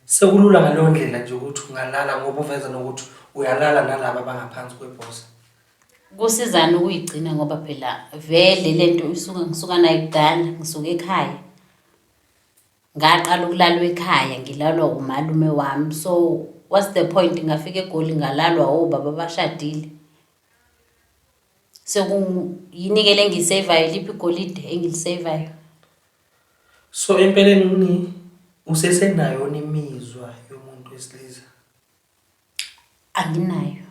Sekulula ngaleyo ndlela nje ukuthi ungalala ngoba uveza nokuthi uyalala nalaba abangaphansi kwebhosa. Kusizani ukuyigcina ngoba phela vele le nto isuke ngisuka nayo kudala, ngisuke ekhaya. Ngaqala ukulalwa ekhaya, ngilalwa umalume wami. So what's the point ngafika eGoli ngalalwa obaba abashadile? Sekuyini-ke le engiyiseyivayo, iliphi igolide engiliseyivayo? So empeleni uni usesenayo imizwa yomuntu wesilisa? Anginayo.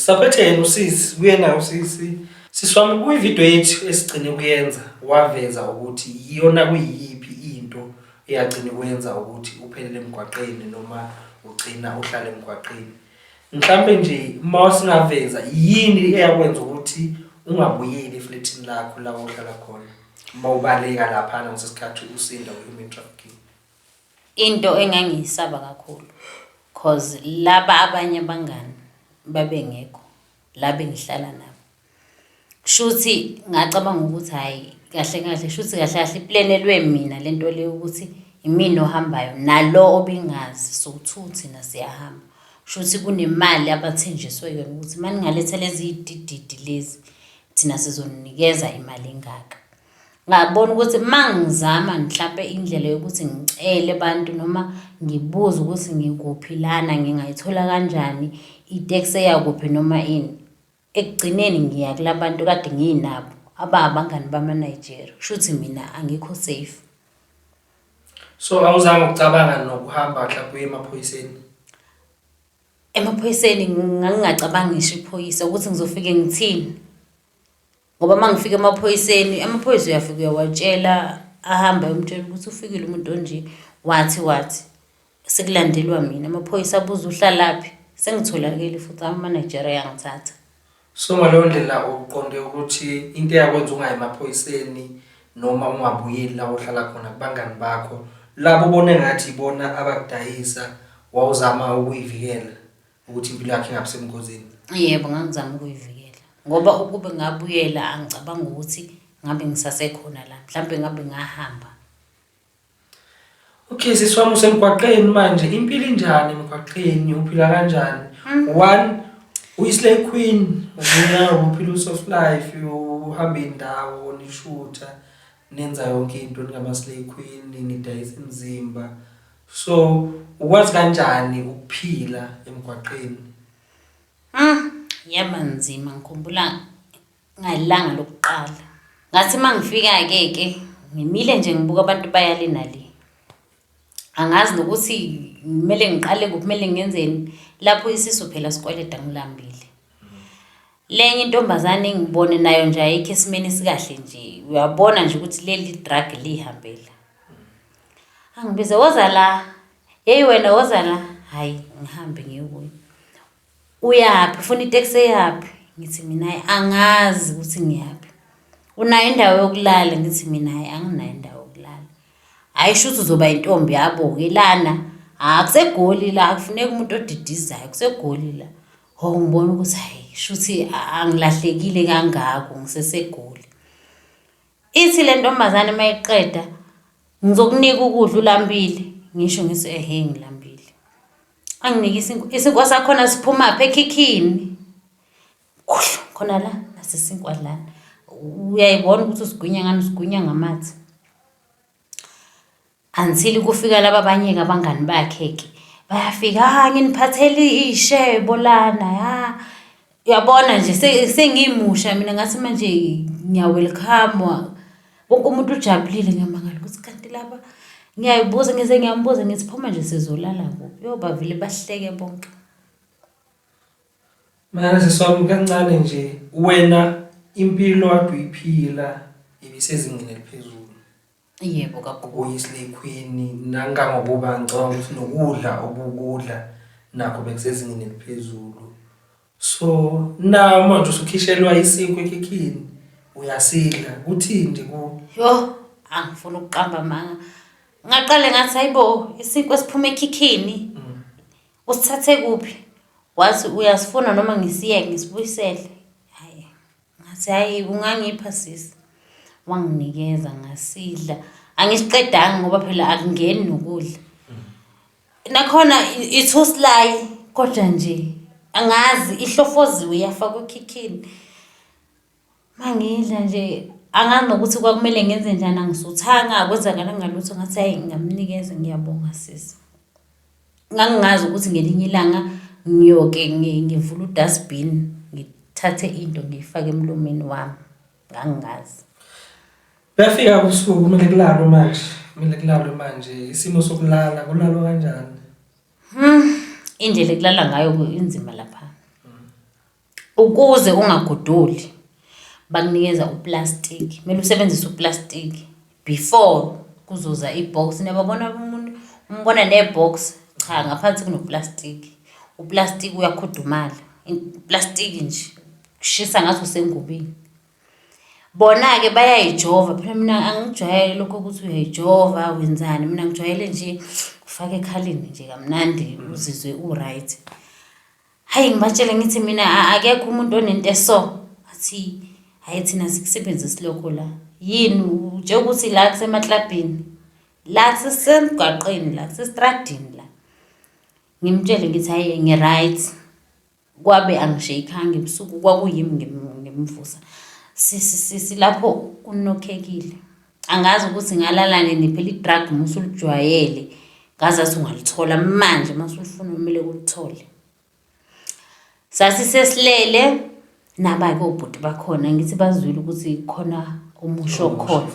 Saphethe yena usisi kuyena usisi siswami kwivideo yethu esigcine kuyenza waveza ukuthi iyona kuyiyiphi into eyagcina kwenza ukuthi uphelele emgwaqeni noma ugcina uhlale emgwaqeni mhlampe nje uma singaveza yini eyakwenza ukuthi ungabuyeli efletini lakho la uhlala khona uma ubaleka laphana ngesikhathi usinda kwi-human trafficking Into engangiyisaba kakhulu cause laba abanye abangani babengekho la bengihlala nabo. Kushuthi ngacabanga ukuthi hhayi kahle kahle shuthi kahle kahle iplenelwe mina le nto le yokuthi imina ohambayo nalo obengazi sowu-two thina siyahamba. Kushuthi kunemali abathenjiswe yona ukuthi uma ningaletha lezi dididi lezi thina sizoninikeza imali engaka. Ngabona ukuthi uma ngizama mhlampe indlela yokuthi ngicele abantu noma ngibuze ukuthi ngikuphi lana ngingayithola kanjani iteksi eya kuphi noma ini. Ekugcineni ngiya kula bantu kade nginabo aba abangani bama-Nigeria, kushuthi mina angikho safe. So awuzange ukucabanga nokuhamba mhlawumbe uye emaphoyiseni? Emaphoyiseni ngangingacabangi ngisho iphoyisa ukuthi ngizofike ngithini. Ngoba uma ngifika emaphoyiseni, amaphoyisa uyafika uyawatshela, ahambe ayomtshela ukuthi ufikile umuntu onje, wathi wathi. Sekulandelwa mina, amaphoyisa abuza uhlalaphi, sengitholakele futhi amamanejera ayangithatha. So ngaleyo ndlela uqonde ukuthi into eyakwenza ungayi emaphoyiseni noma ungabuyeli la ohlala khona kubangani bakho, labo obona engathi ibona abakudayisa wawuzama ukuyivikela ukuthi impilo yakhe ingabi sebungozini yebo ngangizama ukuyivikela ngoba ukube ngabuyela angicabanga ukuthi ngabe ngisasekhona la mhlawumbe ngabe ngahamba okay sisi wami usemgwaqeni manje impilo injani emgwaqeni uphila kanjani hmm. one uyislay queen ubuya uphila usoft life uhamba indawo nishutha nenza yonke into ningama-slay queen nidayisa imizimba So ukwazi kanjani ukuphila emgwaqeni? Mm, yaba nzima ngikhumbula ngalanga lokuqala. Ngathi uma ngifika-ke ke ngimile nje ngibuka abantu bayale nale. Angazi nokuthi kumele ngiqale kuphi kumele ngenzeni lapho isisu phela sikweleta ngilambile. Lenye intombazane engibone nayo nje ayikho esimeni esikahle nje uyabona nje ukuthi leli drug liyihambela. angibize woza la yeyi wena woza la hhayi ngihambe ngiyekuyo uyaphi ufuna iteksi eyaphi ngithi mina angazi ukuthi ngiyaphi unayo indawo yokulala ngithi mina hhayi anginayo indawo yokulala hhayi shuthi uzoba yintombi yabo-ke lana hha kusegoli la kufuneka umuntu odidizayo kusegoli la ho ngibona ukuthi hhayi shuthi angilahlekile kangako ngisesegoli Ithi le ntombazane uma iqeda ngizokunika ukudla ulambile ngisho ngithi ehe ngilambile anginike isinkwa isinkwa sakhona siphumaphi ekhikhini kuhlu khona la nasesinkwa lana uyayibona ukuthi usigwinya ngani usigwinya ngamathe Until kufika laba abanye-ke abangani bakhe-ke bayafika ha nginiphathele ishebo lana ha uyabona nje se- sengimusha mina ngathi manje ngiyawelkhamwa wonke umuntu ujabulile ngiyamangala ukuthi kanti laba ngiyayibuza ngize ngiyambuza ngithi phuma nje sizolala kuphi yo bavele bahleke bonke Mara seswami kancane nje wena impilo kade uyiphila ibisezingeni eliphezulu. Yebo kagogo. Uyislay queen nangangokuba ngicabanga ukuthi nokudla obukudla nakho bekusezingeni eliphezulu. So na manje usukhishelwa isinkwa ekhikhini uyasidla kuthini nje ku Yho, angifuni ukuqamba manga. Ngaqale ngathi hayibo isinkwa esiphuma ekhikhini. Usithathe kuphi? Wathi uyasifuna noma ngisiyeke ngisibuyisele. Ngathi hhayi ungangipha sisi. Wanginikeza ngasidla. Angisiqedanga ngoba phela akungeni nokudla. Nakhona i- it's usilayi kodwa nje angazi ihlofoziwe yafakwa ekhikhini. Mangidla nje angazi nokuthi kwakumele ngenze njani angisuthanga akwenzakalanga lutho ngathi hhayi ngingamnikeza ngiyabonga sisi. Ngangingazi ukuthi ngelinye ilanga ngiyoke ngivule u-dustbin ngithathe into ngiyifake emlomeni wami, ngangingazi. Kuyafika ubusuku kumele kulalwe manje, kumele kulalwe manje. Isimo sokulala kulalwa kanjani? Indlela ekulala ngayo inzima lapha. Ukuze ungagodoli bakunikeza uplastiki, kumele usebenzise uplastiki before kuzoza i-box. Niyababona umuntu, umbona ne-box, cha ngaphansi kunoplastiki. Uplastiki uyakhudumala, uplastiki nje kushisa ngathi usengubeni. Bona-ke bayayijova, phela mina angikujwayele lokhu ukuthi uyayijova wenzani, mina ngijwayele nje ufaka ekhaleni nje kamnandi uzizwe u-right. Hhayi ngibatshele ngithi mina akekho umuntu onento eso. Athi hhayi thina sikusebenzisi lokho la. Yini utshela ukuthi la kusemaklabhini. La sisemgwaqeni la kusestradini la. Ngimtshele ngithi hhayi ngi-right. Kwabe angisheykhanga ebusuku kwakuyimi ngimvusa. Silapho kunokhekile. angazi ukuthi ngalala nini phela i-drug uma usulijwayele ngazathi ungalithola manje uma usulifuna kumele ulithole sasisesilele naba-ke obhuti bakhona ngithi bazwile ukuthi khona umusho okhona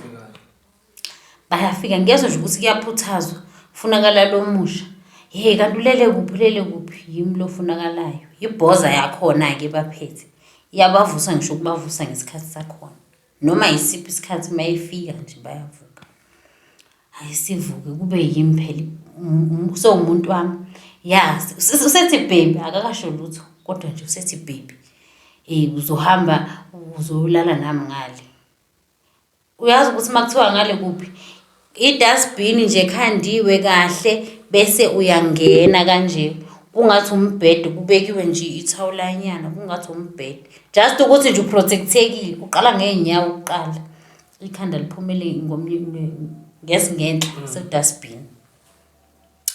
bayafika ngezwa nje ukuthi kuyaphuthazwa funakala lo musha hey kanti ulele kuphi ulele kuphi yimi lo funakalayo yibhoza yakhona-ke baphethe iyabavusa ngisho ukubavusa ngesikhathi sakhona noma yisiphi isikhathi uma efika nje bayavuka. Hhayi sivuke kube yimi phela sewumuntu wami. Yazi usethi baby akakasho lutho kodwa nje usethi baby. Uzohamba uzolala nami ngale. Uyazi ukuthi uma kuthiwa ngale kuphi? Idustbin nje khandiwe kahle bese uyangena kanje kungathi umbhede kubekiwe nje ithawulanyana kungathi umbhede just ukuthi nje uprotectekile uqala ngeenyawo kuqala ikhanda liphumele ngomnye ngesingenhla mm. sedustbin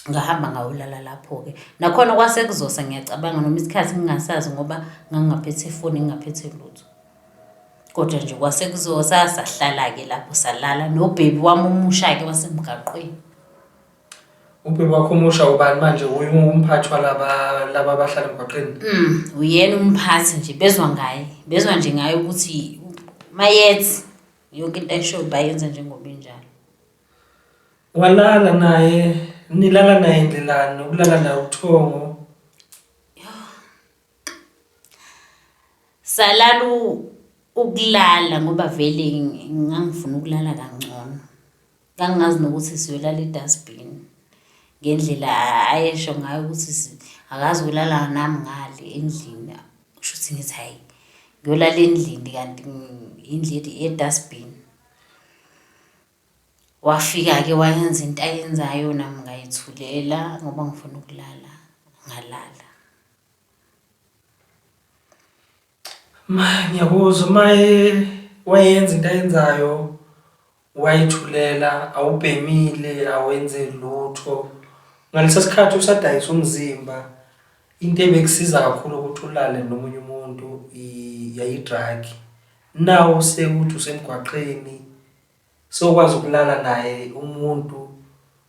ngahamba ngawulala lapho-ke nakhona kwasekuzosa ngiyacabanga noma isikhathi ngingasazi ngoba ngangingaphethe ifoni ngingaphethe lutho kodwa nje kwasekuzosa sahlala-ke lapho salala nobhebi wami omusha-ke wasemgaqweni ubhebi wakho omusha ubani manje uye umphathi walaba laba abahlala emgaqweni mm, uyena umphathi nje bezwa ngaye bezwa nje ngaye ukuthi mayethi yonke into ayishoyo bayenza njengoba injalo Walala naye nilala naye ndlelani nokulala naye ubuthongo. Salala u- ukulala ngoba vele ngi- ngangifuna ukulala kangcono. Ngangingazi nokuthi siyoyolala edustbin ngendlela a- ayesho ngayo ukuthi si- akazi ukulala nami ngale endlini. Kusho ukuthi ngithi hhayi ngiyolala endlini kanti ngi- indlu edustbin. Wafika-ke wayenza into ayenzayo nami ngayithulela ngoba ngifuna ukulala, ngalala. Ma ngiyakuzwa uma wayenza into ayenzayo wayithulela awubhemile awenze lutho. Ngalesa sikhathi usadayisa umzimba, into ebekusiza kakhulu ukuthi ulale nomunye umuntu yayi-drug. Nawu sekuthi usemgwaqeni. sokwazi ukulala naye umuntu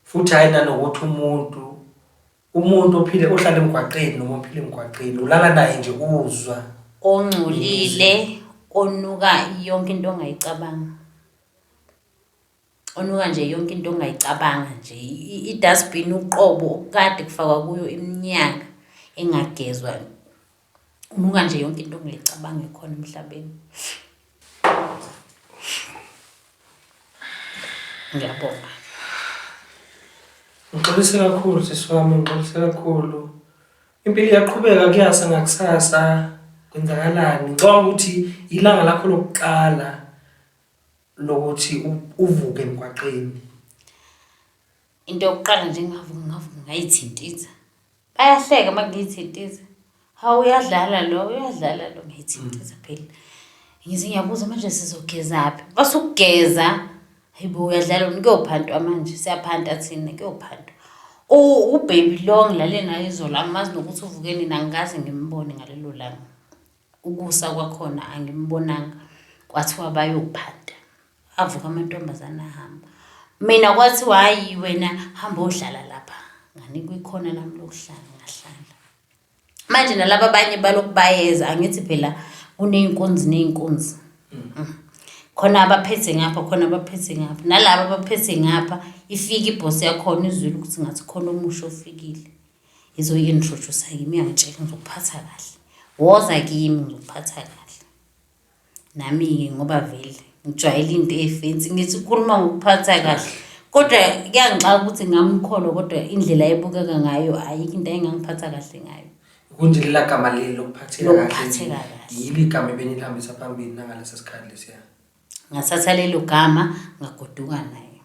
futhi hhayi nanokuthi umuntu umuntu ophile ohlala emgwaqeni noma ophile emgwaqeni ulala naye nje uzwa ongcolile onuka yonke into ongayicabanga onuka nje yonke into ongayicabanga nje i-dustbin uqobo okukade kufakwa kuyo iminyaka engagezwa Unuka nje yonke into ongayicabanga ekhona emhlabeni. Ngiyabonga. Ngixolise kakhulu sisi wami, ngixolise kakhulu. Impilo iyaqhubeka kuyasa ngakusasa kwenzakalani. Ngicabanga ukuthi ilanga lakho lokuqala lokuthi uvuke emgwaqeni. Into yokuqala nje engavuka ngavuka ngayithinta inja. Bayahleka uma ngithi intiza. Hawu uyadlala lo, uyadlala lo ngithi intiza phela. Ngithi ngiyabuza manje sizogezaphi? Basukugeza. Hayibo uyadlala wena kuyophantwa manje siyaphanta thina kuyophantwa. Ubaby lo ngilale naye izolo angimazi nokuthi uvuke nini angikaze ngimbone ngalelo langa. Ukusa kwakhona angimbonanga kwathiwa bayophanta avuka amantombazane ahamba mina kwathiwa hayi wena hamba odlala lapha nganikwa ikhona lami lokuhlala ngahlala manje nalaba abanye balokhu bayeza angithi phela kuney'nkunzi ney'nkunzi mm. mm. khona abaphethe ngapha khona abaphethe ngapha nalaba abaphethe ngapha ifike ibhosi yakhona izwile ukuthi ngathi khona omusha ofikile izoyi-introduce kimi yangitshela ngizokuphatha kahle woza kimi ngizokuphatha kahle nami-ke ngoba vele ngijwayele into efensi ngithi ukhuluma ngokuphatha kahle kodwa kuyangixaka ukuthi ngamkholo kodwa indlela ebukeka ngayo ayikho into ayengangiphatha kahle ngayo kunje lela gama leli lokuphatheka kahle yilo igama ebenilihambisa phambili nangalesi sikhathi lesiya Ngathatha lelo gama ngagoduka naye.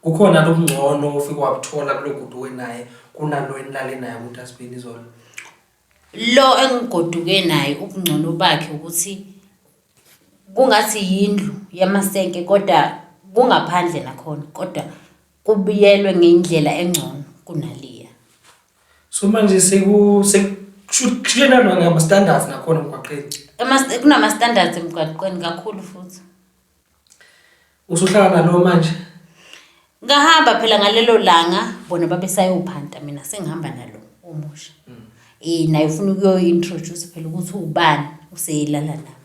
Kukhona lobungcono ofike wabuthola kulogoduke naye kunalo enilale naye ukuthi asibheni izolo? Lo engigoduke naye ubungcono bakhe ukuthi kungathi yindlu yamasenke kodwa kungaphandle nakhona kodwa. kubuyelwe ngendlela engcono kunaliya. So manje seku sekushutshena lona ama standards nakhona emgwaqeni. Ema kunama standards emgwaqeni kakhulu futhi. Usuhlala nalo manje? Ngahamba phela ngalelo langa bona babesayophanta mina sengihamba nalo omusha. Mm. Eh naye ufuna ukuyo introduce phela ukuthi ubani useyilala nami.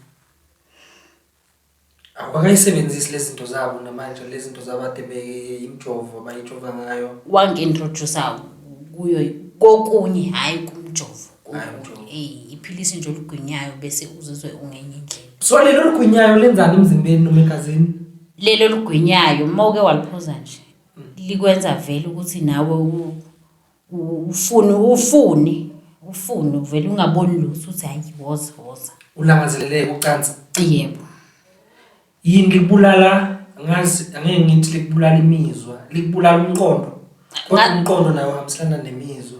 Awakayisebenzisi lezi zinto zabo namanje lezi zinto zabade imjovo abayijova ngayo. Wangi-introduce kuyo kokunye hhayi kumjovo. Hhayi umjovo. Eh, iphilisi nje olugwinyayo bese uzizwe ungenye indlela. So lelo olugwinyayo lenzani emzimbeni noma egazini? Lelo olugwinyayo uma uke waliphuza nje likwenza vele ukuthi nawe u- ufuni ufuni ufuni uvele ungaboni lutho uthi hayi woza woza ulangazeleleke ucansi yebo yini likubulala ngazi angeke ngithi likubulala imizwa likubulala umqondo kodwa Nga- umqondo nawo uhambiselana nemizwa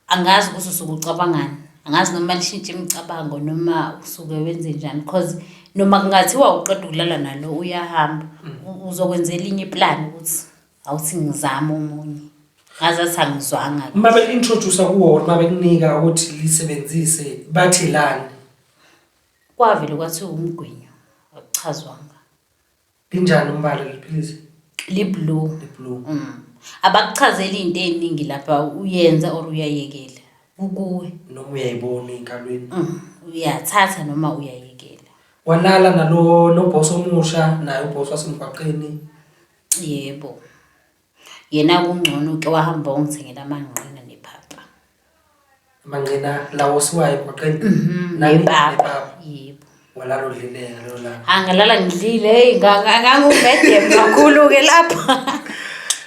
angazi ukuthi usuke ucabangani angazi noma lishintshe imicabango noma usuke wenze njani because noma kungathiwa uqeda ukulala nalo uyahamba u- uzokwenzela inye iplan ukuthi awuthi ngizame omunye ngazathi angizwanga uma bekuintroduce kuwona uma bekunika ukuthi lisebenzise bathi lani kwavele kwathi umgwinyo akuchazwanga linjani umbala liphilisi liblue liblue mm. abakuchazeli into eningi lapha uyenza or uyayekela kukuwe noma uyayibona enkalweni mm. uyathatha noma uyayekela walala nalo nobhosi omusha naye ubhosi wasemgwaqeni Yebo. Yena kungcono uke wahamba wangithengela amanqina nepapa. Manqina lawo siwayo emgwaqeni. Mhm, Nami nepapa. nepapa. Yebo. Walala udlile ngalo langa. Angalala ngidlile hey ngangumedem kakhulu ke lapha.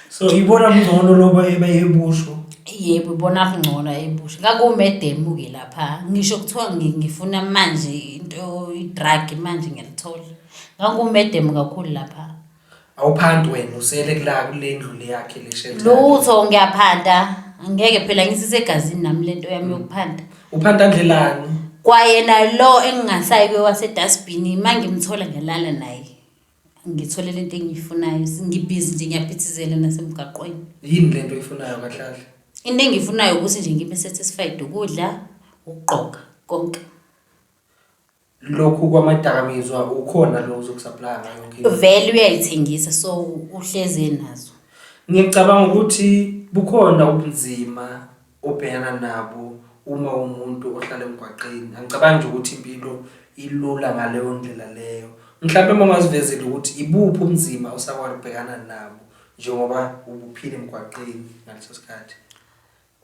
So ibona mngcono loba ebe yebusho. Yebo ibona kungcono ebusha. Ngangumedem ke lapha. Ngisho kuthiwa ngi- ngifuna manje into i-drug manje ngiyalithola. Ngangumedem kakhulu lapha. Awuphandi wena usele kula kule ndlu le yakhe le shelter. lutho ngiyaphanda angeke phela ngisisegazini nami lento yami yokuphanda Uphanda ndlelani? kwayena lo engingasayi kwewasedustbini uma ngimthola ngiyalala naye ngithole lento engiyifunayo ngibhizi nje ngiyaphithizela nasemgaqweni Yini lento oyifunayo kahlale? into engiyifunayo ukuthi nje ngibe satisfied ukudla ukugqoka konke lokhu kwamadakamizwa ukhona lo uzokusaplaya ngayo yonke into. vele uyayithengisa so uhlezi enazo ngicabanga ukuthi bukhona ubunzima obhekana nabo uma umuntu ohlala emgwaqeni angicabangi nje ukuthi impilo ilula ngaleyo ndlela leyo mhlawumbe uma ungazivezile ukuthi ibuphi ubunzima osakwazi ukubhekana nabo njengoba ubuphile emgwaqeni ngaleso sikhathi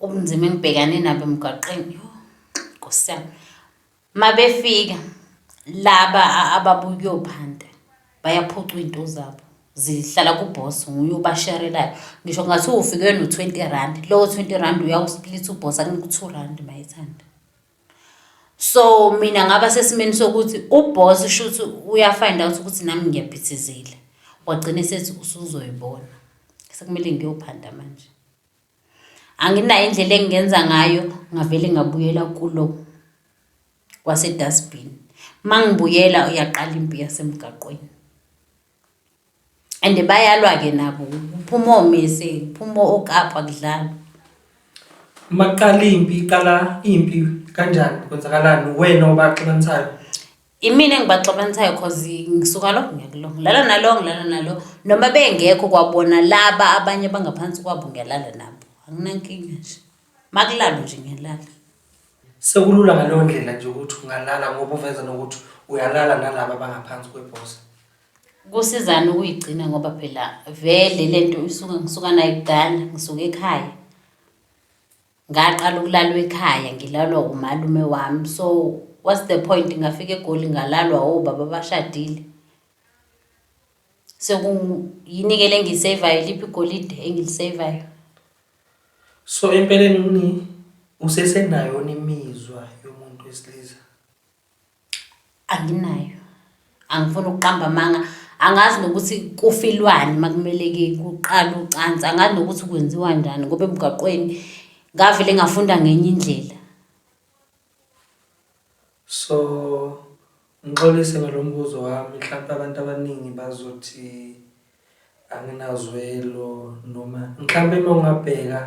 ubunzima engibhekane nabo emgwaqeni yho nkosi yami Mabefika laba ababuyophanda bayaphucwa into zabo zihlala kuboss nguye ubasharelayo ngisho ngathi ufike no-twenty rand lowo twenty rand uyawusplit uboss akunika u-two rand mayithanda so mina ngaba sesimeni sokuthi uboss shuthi uyafind out ukuthi nami ngiyaphithizela wagcina sethi usuzoyibona sekumele ngiyophanda manje anginayo indlela engingenza ngayo ngavele ngabuyela kulo kwasedustbin uma ngibuyela uyaqala impi yasemgaqweni and bayalwa-ke nabo kuphuma omese kuphuma okapha kudlalwa uma kuqala impi iqala impi kanjani kwenzakalani wena obaxabanisayo Imina engibaxabanisayo cause ngisuka lo ngiya kulo, ngilala nalo ngilala nalo. Noma bengekho kwabona laba abanye abangaphansi kwabo ngiyalala nabo, anginankinga nje. Uma kulalwa nje ngiyalala. Sekulula ngaleyo ndlela nje ukuthi ungalala ngoba uveza nokuthi uyalala nalaba abangaphansi kwebhosa. Kusizani ukuyigcina ngoba phela vele le nto isuke ngisuka nayo kudala, ngisuka ekhaya. Ngaqala ukulalwa ekhaya ngilalwa umalume wami so what's the point ngafika egoli ngalalwa obaba abashadile. So yini-ke le engiyiseyivayo liphi igolide engiliseyivayo? So empeleni usesenayona imizwa yomuntu wesilisa? Anginayo. Angifuni ukuqamba amanga. Angazi nokuthi kufilwani uma kumele kuqalwe ucansi. Angazi nokuthi kwenziwa njani ngoba emgaqweni ngavele ngafunda ngenye indlela. So, ngixolise ngalo mbuzo wami, mhlampe abantu abaningi bazothi Anginazwelo noma mhlampe uma ungabheka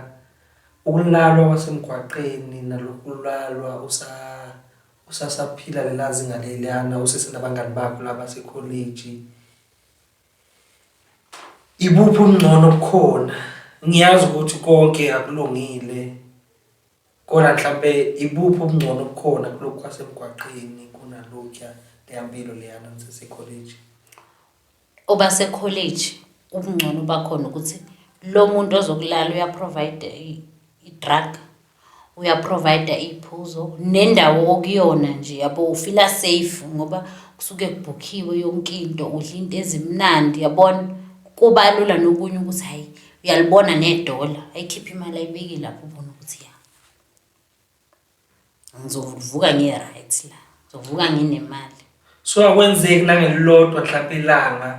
ukulalwa kwasemgwaqeni nalokulalwa usa usasaphila lela zinga leliyana usesenabangani bakho laba sekholeji. Ibuphi ubungcono obukhona? Ngiyazi ukuthi konke akulungile kodwa mhlampe ibuphi ubungcono obukhona kulokhu kwasemgwaqeni kunalokhuya leya mpilo leyana nisesekholeji? Oba sekholeji ubungcono bakhona ukuthi lo muntu ozokulala uyaprovider i-drug uyaprovider iy'phuzo nendawo okuyona nje yabo ufila safe ngoba kusuke kubhukhiwe yonke into udla into ezimnandi yabona kuba lula nokunye ukuthi hhayi uyalibona nedola ayikhiphe imali ayibeki lapho ubona ukuthi ya ngizovuka ngi-right la ngizovuka nginemali so akwenzeki nangelilodwa mhlawumpe ilanga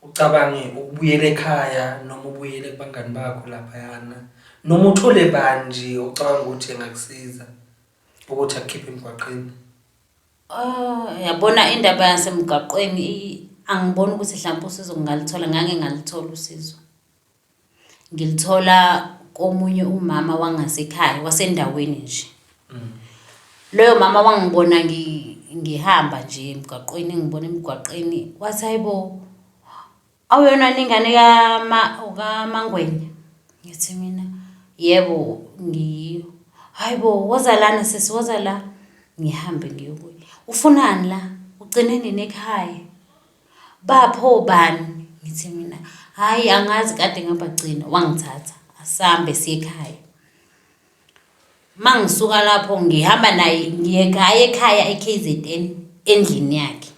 ucabange ukubuyela ekhaya noma ubuyele kubangani bakho laphayana noma uthole bani nje ocabanga ukuthi engakusiza ukuthi akukhiphe emgwaqeni Oh, yabona indaba yasemgaqweni angiboni ukuthi mhlawumbe usizo ngingalithola, ngangingalithola usizo. Ngilithola komunye umama wangasekhaya wasendaweni nje. Loyo mama wangibona ngihamba nje emgwaqweni, engibona emgwaqeni wathi, hhayi bo awuyona yini ingane kaMangwenya? Ngithi mina, yebo ngiyiyo. Hhayi bo, woza lana sisi, woza la. Ngihambe ngiye kuye. Ufunani la? Ugcine nini ekhaya? Bapho bani? Ngithe mina, hhayi angazi kade ngabagcina, wangithatha asambe siye ekhaya. Uma ngisuka lapho ngihamba naye ngiye ngaye ekhaya e-KZN endlini yakhe.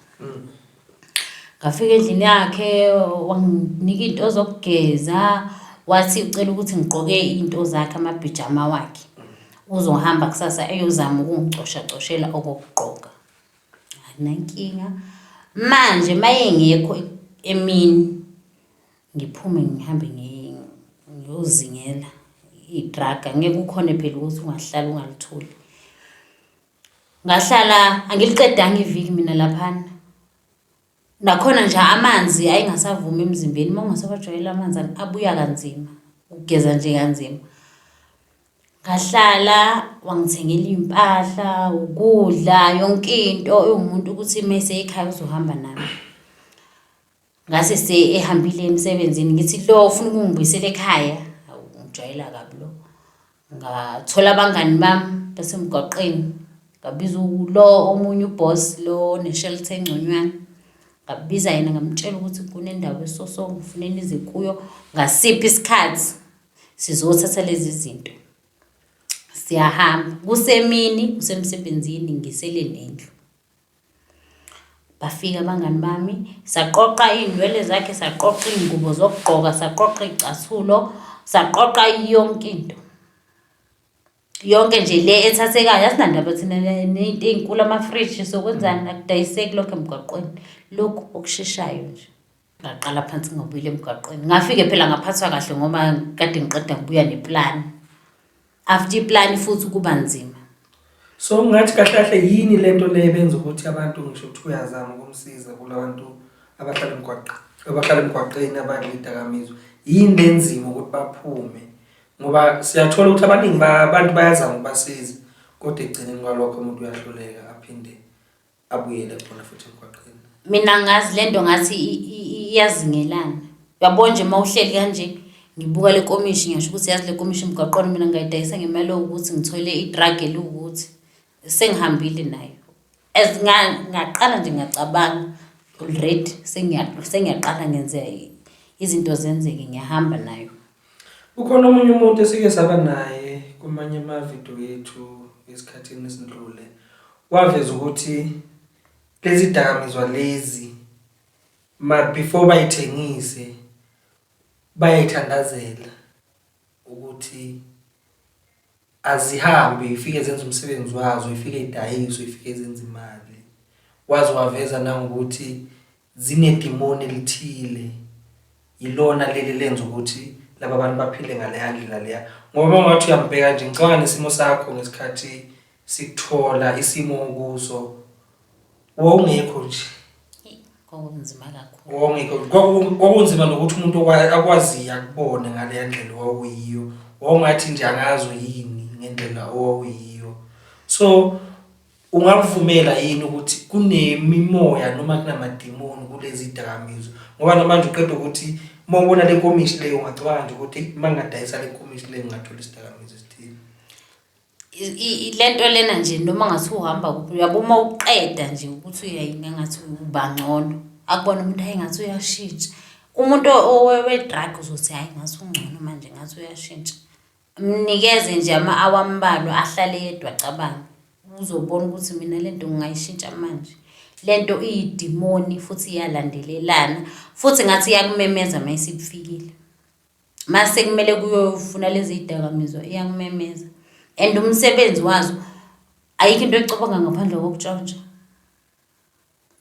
Ngafika endlini yakhe wanginika iy'nto zokugeza, wathi ucela ukuthi ngigqoke iy'nto zakhe amabhijama wakhe. Uzohamba kusasa eyozama ukungicoshacoshela okokugqoka. Anginankinga. Manje uma engekho emini ngiphume ngihambe ngiyozingela i-drug, angeke ukhone phela ukuthi ungahlala ungalitholi. Ngahlala angiliqedanga iviki mina laphana. Nakhona nje amanzi ayingasavumi emzimbeni uma ungasawajwayele amanzi abuya kanzima, ukugeza nje kanzima. Ngahlala wangithengela iy'mpahla, ukudla, yonke into ewumuntu ukuthi uma eseyikhaya uzohamba nami. Ngase ehambile emsebenzini ngithi lo ufuna ukungibuyisela ekhaya, hawu ungijwayela kabi lo. Ngathola abangani bami basemgwaqeni, ngabiza lo omunye u-boss lo one-shelter engconywana, ngabiza yena ngamtshela ukuthi kunendawo eso so ngifune nize kuyo ngasiphi isikhathi sizothatha lezi zinto. Siyahamba, kusemini usemsebenzini ngisele nendlu. Bafika abangani bami, saqoqa iy'nwele zakhe, saqoqa iy'ngubo zokugqoka, saqoqa iy'cathulo, saqoqa yonke into. Yonke nje le ethathekayo, asinandaba thina ney'nto ey'nkulu, amafriji sokwenzani, akudayiseki lokho emgwaqweni. Lokhu okusheshayo nje. ngaqala phansi ngabuyela emgwaqweni ngafike phela ngaphathwa kahle ngoba kade ngiqeda ngibuya neplani after iplani futhi kuba nzima so ngathi kahle kahle yini le nto le benza ukuthi abantu ngisho ukuthi uyazama ukumsiza kula bantu abahlala emgwaqeni abahlala emgwaqeni abangidakamizwa yini le nzima ukuthi baphume ngoba siyathola ukuthi abaningi abantu bayazama ukubasiza kodwa ekugcineni kwalokho umuntu uyahluleka aphinde abuyele khona futhi emgwaqeni mina ngazi lento ngathi iyazingelana uyabona nje uma uhleli kanje ngibuka le komishi ngisho ukuthi yazi le komishi emgwaqweni mina ngayidayisa ngemali ukuthi ngithole i-drug eliwukuthi sengihambile nayo as ngaqala nje ngiyacabanga already sengiyaqala ngenzeka izinto zenzeke ngiyahamba nayo Kukhona omunye umuntu esike saba naye kumanye amavidiyo yethu esikhathini esindlule waveza ukuthi lezi dakamizwa lezi ma before bayithengise bayayithandazela ukuthi Azihambe ifike zenza umsebenzi wazo, ifike idayiswe, ifike zenza imali. Waze waveza nangokuthi zinedimoni elithile. Yilona leli lenza ukuthi laba bantu baphile ngaleya ndlela leya. Ngoba uma ungathi uyambheka nje ngicabanga nesimo sakho ngesikhathi sikuthola isimo okuso. wawungekho nje kwakunzima kakhulu wawungekho kwaku- kwakunzima nokuthi umuntu okwa- akwaziyo akubone ngaleya ndlela owawuyiyo wawungathi nje angazo yini ngendlela owawuyiyo so ungakuvumela yini ukuthi kunemimoya noma kunamadimoni kulezi dakamizwa ngoba namanje uqeda ukuthi uma ubona le nkomishi leyo ungacabanga nje ukuthi uma ngingadayisa le nkomishi leyo ngingathola isidakamizwa esithile lento lena nje noma ngathi uhamba kuphi uyabo uma uqeda nje ukuthi uyayini engathi uba ngcono akubona umuntu hhayi ngathi uyashintsha umuntu owe-drug uzothi hhayi ngathi ungcono manje ngathi uyashintsha mnikeze nje ama-awa ambalwa ahlale yedwa acabange uzobona ukuthi mina le nto ngingayishintsha manje le nto iyidimoni futhi iyalandelelana futhi ngathi iyakumemeza uma isibufikile mase kumele kuyofuna lezi zidakamizwa iyakumemeza and umsebenzi wazo ayikho into ecabanga ngaphandle kokutshontsha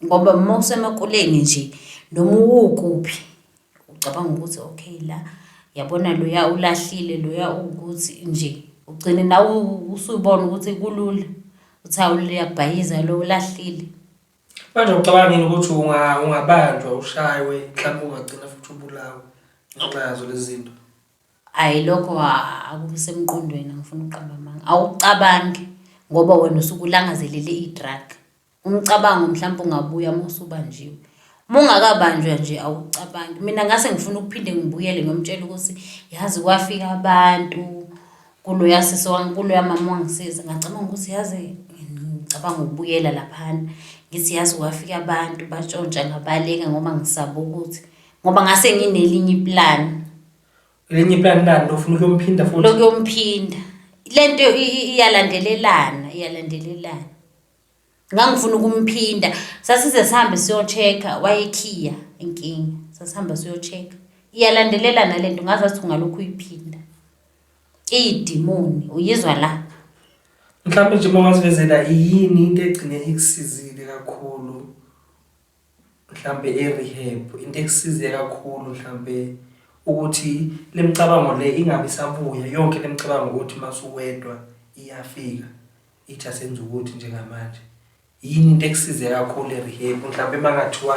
ngoba uma usemakuleni nje noma uwukuphi ucabanga ukuthi okay la yabona loya ulahlile loya ukuthi nje ugcine nawe usubona ukuthi kulula uthi hawu liyabhayiza lo ulahlile. Manje ucabanga yini ukuthi unga ungabanjwa ushaywe mhlawumbe ungagcina futhi ubulawe ngenxa yazo lezi zinto? Hhayi lokho a- akusemqondweni angifuni ukuqamba amanga. Awucabangi ngoba wena usuke ulangazelele i-drug. Umcabango mhlawumpe ungabuya uma usubanjiwe. Uma ungakabanjwa nje awucabangi. Mina ngase ngifuna ukuphinde ngibuyele ngiyomtshela ukuthi yazi kwafika abantu. kuloya sisi kuloya mama wangisiza ngacabanga ukuthi yazi ngicabanga ukubuyela laphana ngithi yazi kwafika abantu batshontsha ngabaleka ngoba ngisaba ukuthi ngoba ngase nginelinye iplan elinye iplan lani lofuna ukuyomphinda futhi lokuyomphinda le nto iyalandelelana iyalandelelana Ngangifuna ukumphinda. Sasize sihambe siyocheck-a, wayekhiya inkinga. Sasihamba siyocheck-a. Iyalandelelana le nto, ngaze ngathi ungalokhu uyiphinda. Iyidimoni, uyizwa la. Mhlampe nje uma ungasivezela yini into egcine ikusizile kakhulu mhlampe e-rehab, into ekusize kakhulu mhlampe ukuthi le micabango le ingabe isabuya, yonke le micabango yokuthi uma usuwedwa iyafika? ithi asenze ukuthi njengamanje yini into ekusize kakhulu e-rehab mhlawumbe uma ngathiwa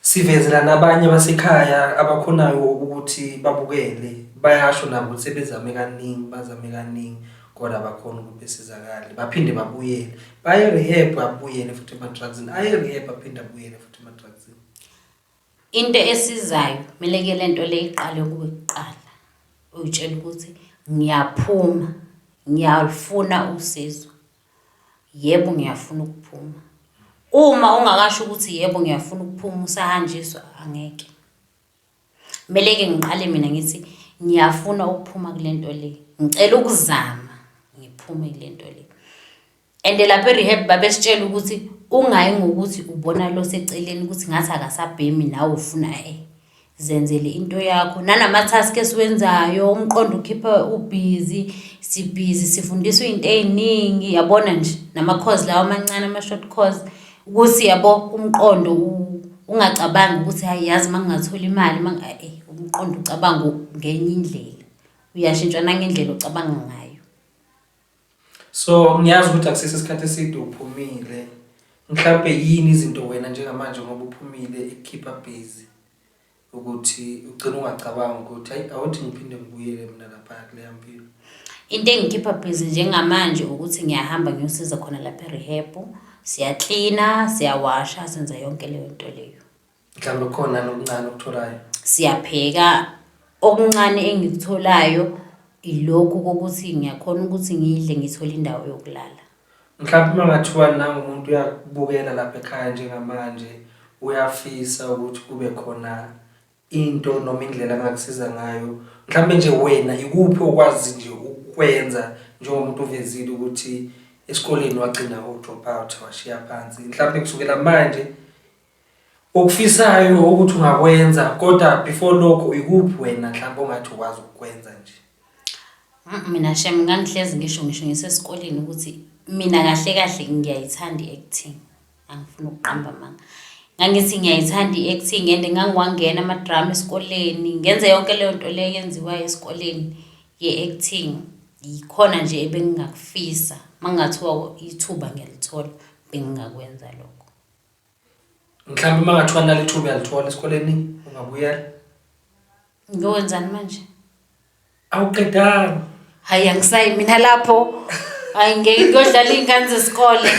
sivezela nabanye basekhaya abakhonayo ukuthi babukele bayasho nabo ukuthi sebezame kaningi bazame kaningi kodwa abakhona ukuthi besizakale baphinde babuyele baye rehab abuyele futhi ema-drugsini aye rehab aphinde abuyele futhi ema-drugsini Into esizayo kumele ke le nto le iqale kuwe kuqala, uyitshela ukuthi ngiyaphuma, ngiyalufuna usizo. Yebo, ngiyafuna ukuphuma. Uma ungakasho ukuthi yebo, ngiyafuna ukuphuma usahanjiswa, angeke. Kumele-ke ngiqale mina ngithi ngiyafuna ukuphuma kule nto le, ngicela ukuzama ngiphume kule nto le. and lapha e-rehab babesitshela ukuthi ungayi ngokuthi ubona lo seceleni ukuthi ngathi akasabhemi nawe ufuna e zenzele into yakho nanama-task esiwenzayo umqondo ukhipha ubhizi sibhizi sifundiswa iy'nto ey'ningi yabona nje nama-cause lawo amancane ama-short cause ukuthi yabo umqondo ungacabangi ukuthi hayi yazi uma ngingathola imali uma eh, umqondo ucabanga ngenye indlela uyashintshwa nangendlela ocabanga ngayo So ngiyazi ukuthi akusese isikhathi eside uphumile. Mhlawumbe yini izinto wena njengamanje ngoba uphumile ekukhipha busy ukuthi ugcina ungacabanga ukuthi hayi awuthi ngiphinde ngibuyele mina lapha kuleya mpilo. Into engikhipha busy njengamanje ukuthi ngiyahamba ngiyosiza khona lapha e-rehab. Siyaklina, siyawasha, senza yonke leyo nto leyo. mhlawumbe kukhona nokuncane okutholayo siyabheka okuncane engikutholayo ilokhu kokuthi ngiyakhona ukuthi ngidle ngithole indawo yokulala mhlawumbe uma ngathiwa nangumuntu uyakubukela lapha ekhaya njengamanje uyafisa ukuthi kube khona into noma indlela angakusiza ngayo mhlawumbe nje wena ikuphi okwazi nje ukwenza njengomuntu uvezile ukuthi esikoleni wagcina u-drop out washiya phansi mhlawumbe kusukela manje Okufisayo ukuthi ungakwenza kodwa before lokho ikuphi wena mhlawumbe ongathi ukwazi ukukwenza nje? Mm, Mina shem ngangihlezi ngisho ngisho ngisesikoleni ukuthi mina kahle kahle ngiyayithanda i-acting. Angifuni ukuqamba amanga. Ngangithi ngiyayithanda i-acting and ngangiwangena ama-drama esikoleni, ngenze yonke leyo nto leyo eyenziwayo esikoleni ye-acting. Yikhona nje ebengingakufisa. Uma kungathiwa ithuba ngiyalithola bengingakwenza lokho. mhlawumbe uma ngathiwa nalo ithuba uyalithola esikoleni ungabuyela ngiyokwenzani manje awuqedanga hayi angisayi mina lapho hayi ngeke ngiyodlala iy'ngane zesikole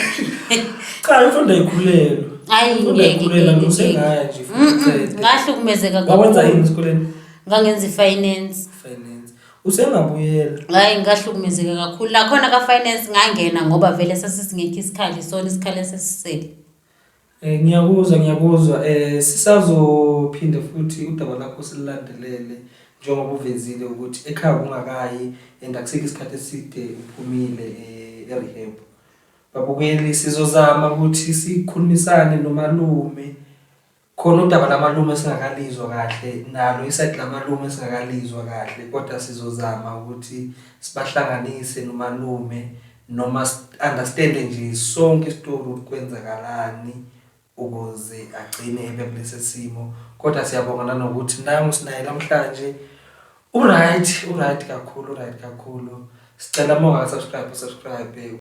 cha imfundo ayikhulelwe hayi Imfundo ngeke ayikhulelwe ngeke, usengaya nje ngeke. Mm, mm, ngahlukumezeka wawenza kakhulu. yini esikoleni ngangenza i-finance finance usengabuyela Hhayi ngahlukumezeka kakhulu. Nakhona ka-finance ngangena ngoba vele sasisingekho isikhali isona isikhali esesisele. Eh ngiyakuzwa ngiyakuzwa eh sisazophinde futhi udaba lakho silulandelele njengoba uvezile ukuthi ekhaya kungakayi and akusikho isikhathi eside uphumile eh e-rehab. Babukeli sizozama ukuthi sikhulumisane nomalume Khona udaba lamalume esingakalizwa kahle nalo isayidi lamalume esingakalizwa kahle kodwa sizozama ukuthi sibahlanganise nomalume noma understande nje sonke isitori ukuthi kwenzakalani ukuze agcine ebe kulesi simo kodwa siyabonga nanokuthi nangu sinaye namhlanje uright uright kakhulu uright kakhulu sicela uma ungasubscribe subscribe